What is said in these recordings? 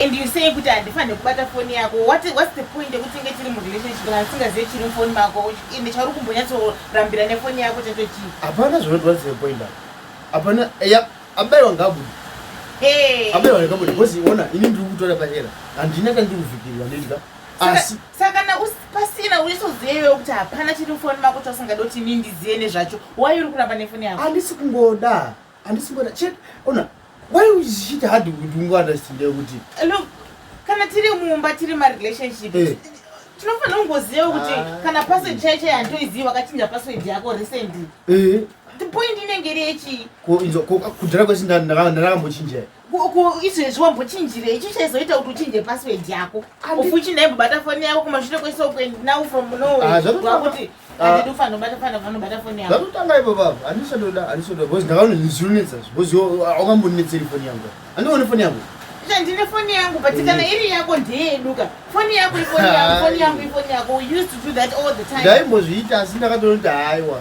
And you say kuti handifanire kubata foni yako. What what's the point yekuti tinge tiri mu relationship kana tisingazive chiri mufoni mako ende chauri kumbonyatso rambira ne foni yako chacho chii? Hapana zvinoti what's the point apa. Hapana ya abaiwa ngabude. Hey. Abaiwa ngabude because iona ini ndiri kutora pachera. Handina kana ndiri kuvhikirwa ndidya. Asi saka kana pasina uisozivewo kuti hapana chiri mufoni mako chausingadi kuti ini ndizive nezvacho. Why uri kuramba ne foni yako? Handisi kungoda. Handisi kuda chete. Ona why would she had to do understand kuti. Hello. Kana tiri mumba tiri ma relationship. Hey. Eh. Tinofanira kungoziva kuti ah. kana password chai chai handoiziva wakachinja password yako recently. Eh. The point inenge iri yechi. Ko inzo ko kudhara kwese ndakambochinja. izvezvi wambochinjirei ichi chaizoita kuti uchinje password yako ufu uchinda imbobata foni yako kumashure kwese ukuendi now from nowakuti zvatotanga ipo baba handisadoda handisadoda bcause ndakaona ndizvinonetsa bcause wakambonetseri foni yangu handione foni yangu ndine foni yangu but mm. kana iri yako ndeyeduka foni yako ifoni yako foni yangu ifoni yako we used to do that all the time ndaimbozviita asi ndakatonoti haiwa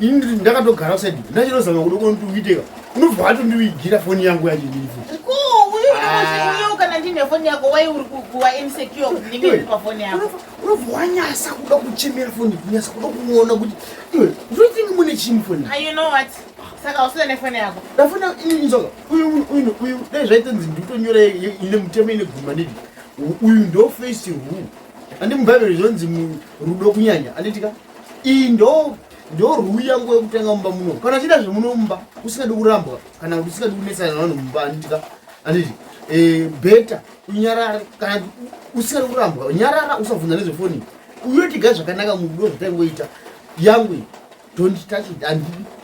ini ndakatogara kusaidi ndachinozama kuda kunotiuiteka unobva watondivigira foni yangu yacho ndirifu unobva wanyasa kuda kuchemera foni kunyasa kuda kuona kuti iwe zvotingi mune chini foni ndafona inini soka uyu uyu uyu dai zvaitonzi nditonyora ine mutemo ine guma nidi uyu ndo face ru andi mubhaibheri zvonzi rudo kunyanya anditika iyi ndo ndorwuya nguva yekutanga mumba muno kana chida zvemuno mumba usingadi kurambwa kana kuti usingadi kunetsana navanhu mumba anditika anditi eh, beta unyarare kana usingadi kurambwa nyarara usabvunza nezvefoni uyotiga zvakanaka mudo zvatangoita yangu don't touch it andidi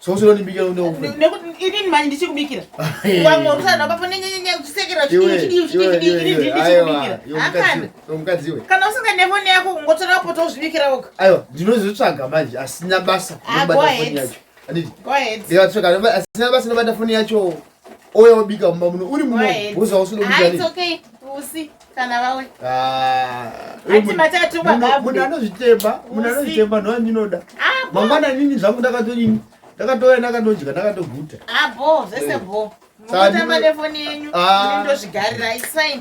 sosinonibikira nekuti inini manje ndichikubikira wamwe usana papo nenyenyenyakusekera chidiichidiichidiichidiichidiichidikira akana kana usinga nefoni yako kungotora wapota uzvibikira woga aiwa ndinozotsvaga manje asina basa ah, asina basa nobata foni yacho ouya wobika mumba muno uri munobhuza usinobikausi kana vawe ah, munhu anozvitemba munhu anozvitemba ndoa ndinoda ah, mangwana nini zvangu ndakatodini ndakatouya ndakatodya ndakatoguta ah, bo zvese bo mukutamba nefoni yenyu ndozvigarira isign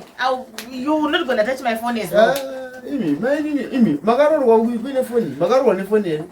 you will not gonna touch my phone as well imi mainini imi makarorwa kuine foni makarorwa nefoni yenyu